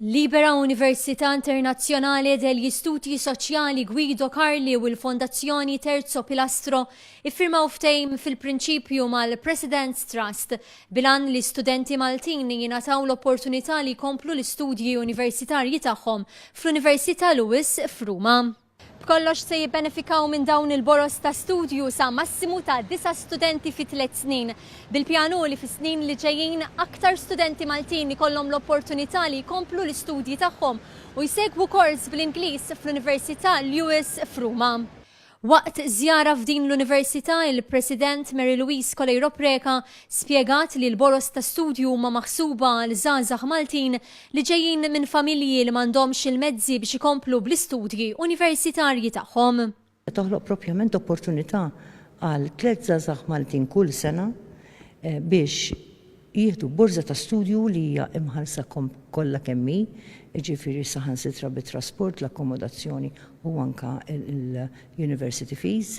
Libera Università Internazzjonale degli Studi Soċjali Guido Carli u l-Fondazzjoni Terzo Pilastro iffirmaw ftehim fil-prinċipju mal-President's Trust bilan li studenti Maltin jingħataw l-opportunità li jkomplu l-istudji universitarji tagħhom fl-Università Lewis f'Ruma. B'kollox se jibbenefikaw minn dawn il-boroż ta' studju sa massimu ta' disa' studenti fi tliet snin. Bil-pjan hu li fis-snin li ġejjin aktar studenti Maltin ikollhom l-opportunità li jkomplu l-istudji tagħhom u jsegwu kors bl-Ingliż fl-Università Lewis f'Ruma. Waqt żjara f'din l-Università, il-President Mary Louise Coleiro Preca Spjegat li l-boroż ta' studju huma maħsuba għal żgħażagħ Maltin li ġejjin minn familji li m'għandhomx il-mezzi biex ikomplu bl-istudji universitarji tagħhom. Toħloq propjament opportunità għal tliet żgħażagħ Maltin kull sena biex jieħdu borża ta' studju li hija imħallsa kollha kemm hi, jiġifieri saħansitra bit-trasport, l-akkomodazzjoni u anke l-university fees.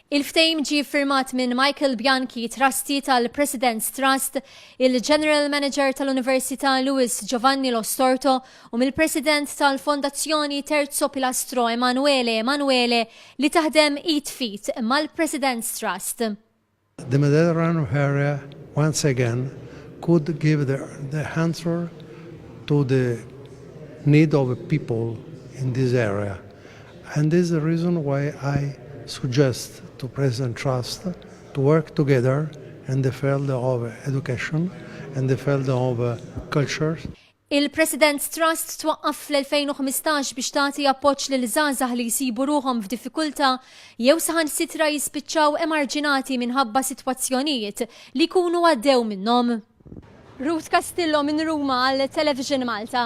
Il-ftehim ġie ffirmat minn Michael Bianchi, Trustee tal-President's Trust, il-General Manager tal-Università Lewis Giovanni Lo Storto u mill-President tal-Fondazzjoni Terzo Pilastro Emanuele Emanuele li taħdem id f'id mal-President's Trust. The Mediterranean area once again could give the the answer to the need of people in this area And this is the reason why I suggest to President Trust to work together in the field of education, in the field of culture. Il-President Trust twaqqaf fl-2015 biex tagħti appoġġ lil żgħażagħ li jsibu ruħhom f'diffikultà jew saħansitra jispiċċaw emarġinati minħabba sitwazzjonijiet li jkunu għaddew minnhom. Ruth Castillo minn Ruma għal Television Malta.